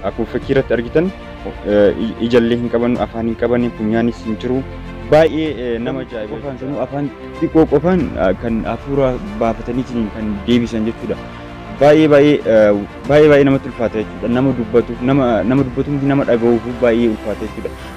Akkuma fakkii irratti argitan ijallee hin qaban, afaan hin qaban, funyaanis hin jiru. Baay'ee nama ajaa'iba. Qofaan sanuu afaan xiqqoo qofaan kan hafuura baafataniitiin kan deebisan jechuudha. Baay'ee baay'ee baay'ee baay'ee namatti ulfaata jechuudha. Nama dubbatuuf nama nama dubbatuuf nama dhaga'uuf baay'ee ulfaata jechuudha.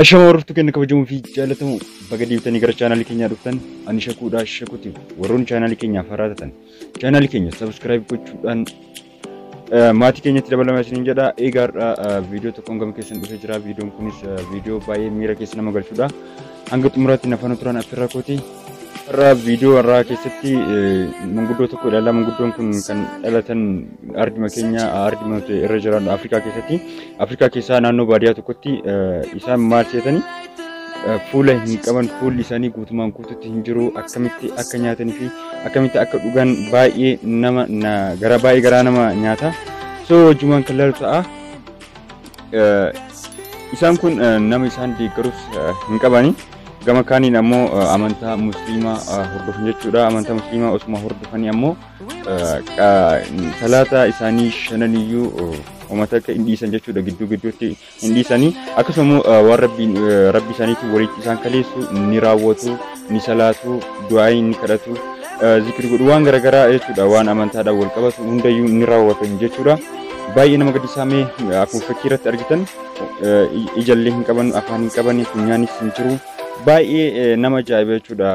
Ashama hordoftuu keenya kabajamoo fi jaallatamoo baga deebitanii gara chaanaalii keenyaa dhuftan ani shakuudhaa shakuuti warroonni chaanaalii keenyaaf haaraa taatan chaanaalii keenya sabiskiraayib gochuudhaan eh, maatii keenyatti dabalama isiniin jedha eegaa har'a viidiyoo tokkoon gama keessan dhufee jira viidiyoon kunis eh, viidiyoo baay'ee miira keessa nama galchudha hanga xumuraatti nafaana turan affirraa kooti Har'a viidiyoo har'aa keessatti manguddoo tokko ilaalla. Manguddoon kun kan dhalatan arduma keenya arduma irra jiran Afrikaa keessatti. Afrikaa keessaa naannoo baadiyyaa tokkotti isaan maal seetanii fuula hin qaban fuulli isaanii guutumaan guututti hin jiru akkamitti akka nyaatanii fi akkamitti akka dhugan baay'ee nama gara baay'ee garaa nama nyaata. So wajjumaan kan laalu ta'a. Isaan kun nama isaan deeggarus hin qabani. gama kaaniin ammoo eh, amantaa musliimaa eh, hordofan jechuudha amantaa musliimaa osuma hordofanii ammoo eh, qa- salaata isaanii shananiyyuu eh, uummata akka hin dhiisan jechuudha gidduu gidduutti hin dhiisanii akkasuma immoo eh, waan rabbiin eh, rabbi isaaniitiin walitti isaan kaleessu ni raawwatu ni salaatu du'aayi ni kadhatu eh, zikri godhu waan garaagaraa jechuudha waan amantaadhaan wal qabatu hundayyuu ni raawwatan jechuudha baay'ee nama gaddisaamee akkuma fakkii irratti argitan ijallee hin qaban afaan hin qaban funyaanis hin jiru baay'ee nama ajaa'iba jechuudha.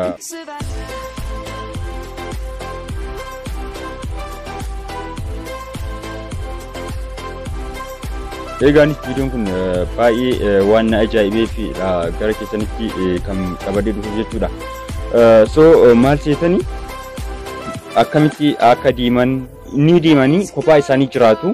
Eegaanis viidiyoon kun baay'ee waan na ajaa'ibee fi gara keessanitti kan qabadee dhufu jechuudha. So maal seetanii akkamitti akka diiman ni deemanii kophaa isaanii jiraatu.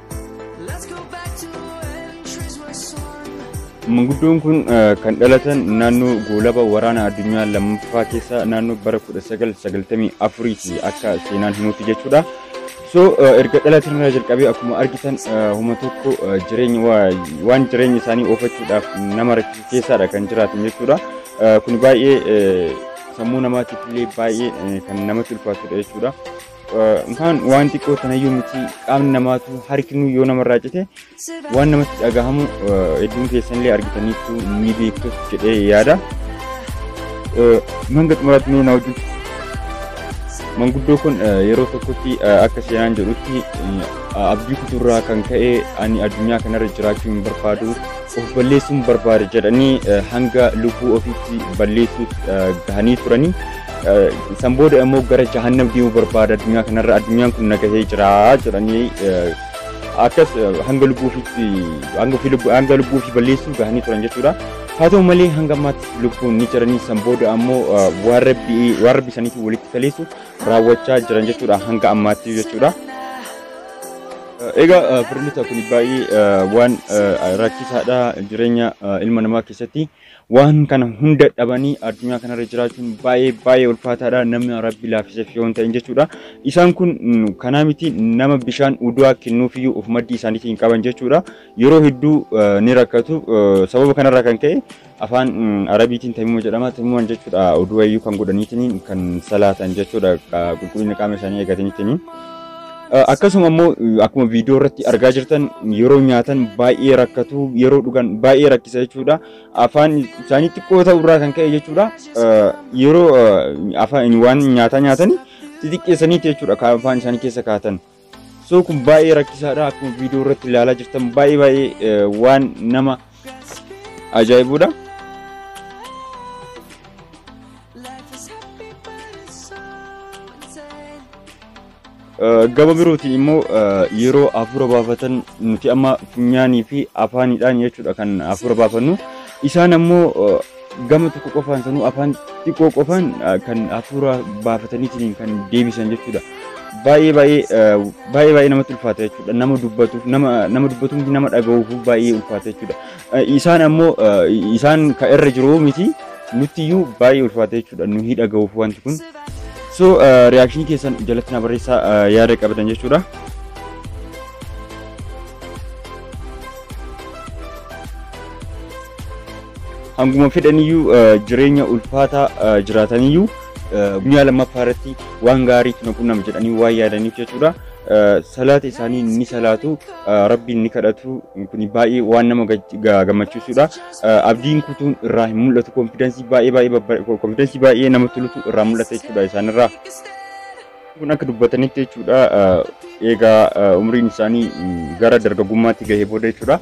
Manguddoon kun kan dhalatan naannoo goolaba waraana addunyaa lammaffaa keessa naannoo bara 1994 ti akka seenaan himutti jechuudha. So erga dhalatan irraa jalqabee akkuma argitan homa tokko jireenya waan jireenya isaanii oofachuudhaaf nama rakkisu keessaadha kan jiraatan jechuudha. Kun baay'ee sammuu namaatiif illee baay'ee kan namatti ulfaatudha jechuudha. Kaan waan xiqqoo tanayyuu miti qaamni namaatu harkinu yoo namarraa cite waan namatti dhagahamu hedduun keessanillee argitaniitu ni beektu jedhee yaada. Manga xumuraatti mee na wajjin manguddoo kun yeroo tokkotti akka seenaan jedhutti abdii kuturraa kan ka'e ani addunyaa kanarra jiraachuu hin barbaadu of balleessuun barbaada jedhanii hanga lubbuu ofiitti balleessuutti gahanii turanii San booda immoo gara jahannam deemuu barbaada addunyaa kanarra addunyaan kun nagahee jira jedhanii akkas hanga lubbuufitti hanga ofii lubbuu hanga lubbuufi balleessuu gahanii turan jechuudha. Haa ta'u malee hanga ammaatti lubbuun ni jiranii san booda ammoo waan rabbi waan rabbi isaaniitiin walitti kaleessu raawwachaa jiran jechuudha hanga ammaatti jechuudha. Egaa firilita kun baay'ee waan rakkisaadha jireenya ilma namaa keessatti. Waan kana hunda dhabanii addunyaa kanarra jiraachuun baay'ee baay'ee ulfaataadha. Namni rabbi laaffiseef yoo hin ta'in jechuudha. Isaan kun mm, kanaa miti nama bishaan udu'aa kennuufiyyuu of maddii isaaniitii hin qaban jechuudha. Yeroo hedduu eh, ni rakkatu. Eh, Sababa kanarraa kan ka'e afaan mm, arabiitiin tamima jedhama. Tamiman jechuudha udu'ayyuu kan godhaniitiin kan salaatan jechuudha. Qa- Qulqullina qaama isaanii eegataniitiin. Akkasuma immoo akkuma viidiyoo irratti argaa jirtan yeroo nyaatan baay'ee rakkatu yeroo dhugan baay'ee rakkisa jechuudha. Afaan isaanii xiqqoo ta'uu irraa kan ka'e jechuudha. Yeroo afaan waan nyaataa nyaatanii xixiqqeessaniiti jechuudha kan afaan isaanii keessa kaa'atan. So kun baay'ee rakkisaadha akkuma viidiyoo irratti ilaalaa jirtan baay'ee baay'ee waan nama ajaa'ibuudha. Gama birootiin immoo yeroo hafuura baafatan nuti amma funyaanii fi afaanidhaan jechuudha kan hafuura baafannu. Isaan ammoo gama tokko qofaan sanuu afaan xiqqoo qofaan ah, kan hafuura baafataniitiin kan deebisan jechuudha. Baay'ee baay'ee ah, baay'ee baay'ee namatti ulfaata jechuudha. Nama dubbatuuf nama nama dubbatuuf miti, nama dhaga'uuf baay'ee ulfaata jechuudha. Ah, Isaan ammoo ah, isaan kan irra jiru miti nuttiyyuu baay'ee ulfaata jechuudha. Nu hin dhaga'uuf wanti kun. So reaction keessan jalatti na barreessaa ah, yaada qabdan jechuudha. Hanguma fedhaniyyuu jireenya ulfaataa jiraataniyyuu guyyaa lammaffaa irratti waan gaariitu na qunnama jedhanii waan yaadaniif jechuudha. Salaata isaanii ni salaatu, rabbiin ni kadhatu, kun baay'ee waan nama gammachiisudha. Abdiin kutuun irraa hin mul'atu, konfidensii baay'ee baay'ee konfidensii baay'ee namatti tolutu irraa mul'ata jechuudha isaanirraa. kun akka dubbatanitti jechuudha eegaa umriin isaanii gara dargaggummaatti gahee booda jechuudha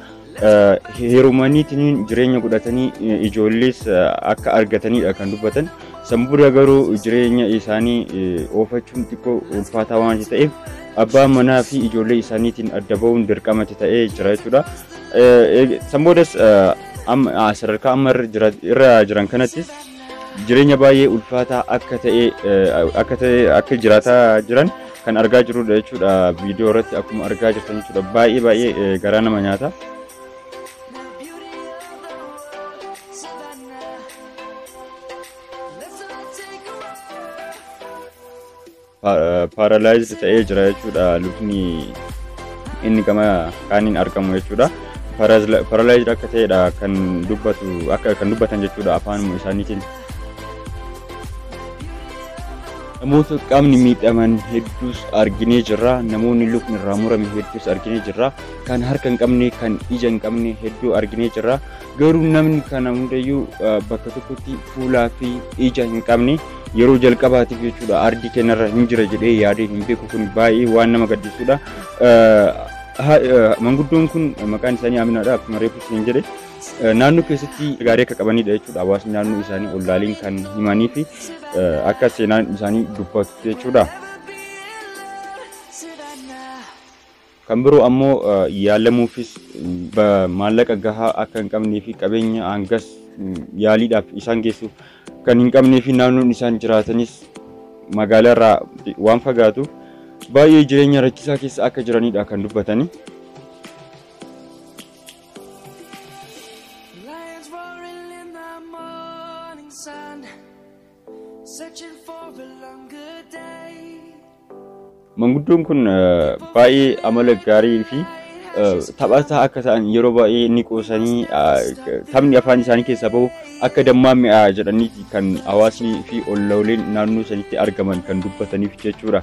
heerumaniitiin jireenya godhatanii ijoollees akka argatanidha kan dubbatan san booda garuu jireenya isaanii oofachuun xiqqoo ulfaataa waan ta'eef abbaa manaa fi ijoollee isaaniitiin adda ba'uun dirqamatti ta'ee jira jechuudha san boodas sadarkaa amma irra jiran kanattis jireenya baay'ee ulfaataa akka ta'e akka ta'e akka jiraataa jiran kan argaa jirrudha jechuudha viidiyoo irratti akkuma argaa jirtan jechuudha baay'ee baay'ee garaa nama nyaata. paaralaayizd ta'ee jira jechuudha lukni inni gama kaaniin argamu jechuudha. Paaralaayizd akka ta'edha kan dubbatu akka kan dubbatan jechuudha afaanuma isaaniitiin. Namoota qaamni miidhaman hedduus arginee jirra. Namoonni lukni irraa murame hedduus arginee jirra. Kan harka hin qabne, kan ija hin qabne hedduu arginee jirra. Garuu namni kana hundayyuu bakka tokkotti fuulaa fi ija hin qabne yeroo jalqabaatiif jechuudha ardii keenyarra hin jira jedhee yaadee hin beeku kun baay'ee waan nama gaddisuudha. Manguddoon kun maqaan isaanii Aminaadha akkuma reefu isin jedhe naannoo keessatti gaarii akka qabanidha jechuudha hawaasni naannoo isaanii ollaaliin kan himanii fi akka seenaan isaanii dubbatu jechuudha. Kan biroo ammoo yaalamuufis maallaqa gahaa akka hin qabnee fi qabeenya hangas yaaliidhaaf isaan geessu kan hin qabnee fi naannoon isaan jiraatanis magaalaarraa waan fagaatuuf baay'ee jireenya rakkisaa keessa akka jiranidha kan dubbatani. Lions roaring in the morning sun. Manguddoon kun baay'ee amala gaarii fi taphataa akka ta'an yeroo baay'ee ni qoosanii taphni afaan isaanii keessaa bahu akka dammaa mi'aa jedhaniiti kan hawaasni fi ollooleen naannoo sanitti argaman kan dubbataniif jechuudha.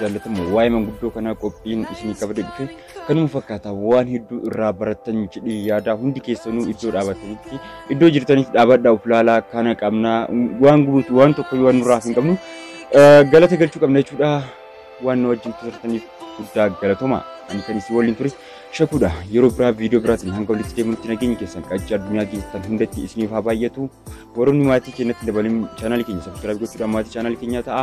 jaallatama waa'ee manguddoo kanaa qophiin isinii qabate dhufe kanuma fakkaata waan hedduu irraa barattan jedhee yaadaa hundi keessanuu iddoo dhaabatanitti iddoo jirtaniif dhaabadhaa of ilaalaa kana qabnaa waan gubutu waan tokko waan nurraa hin qabnu eh, galata galchuu qabna jechuudha waan nu wajjin turtaniif guddaa galatoma ani kan isin waliin ture shakuudha yeroo biraa viidiyoo biraatiin hanga walitti deemutti nageenya keessan qaccee addunyaa keessan hundatti isiniif haa baay'atu warroonni maatii keenyatti dabalin chaanaalii keenya sabskiraayib gochuudhaan maatii chaanaalii keenyaa ta'a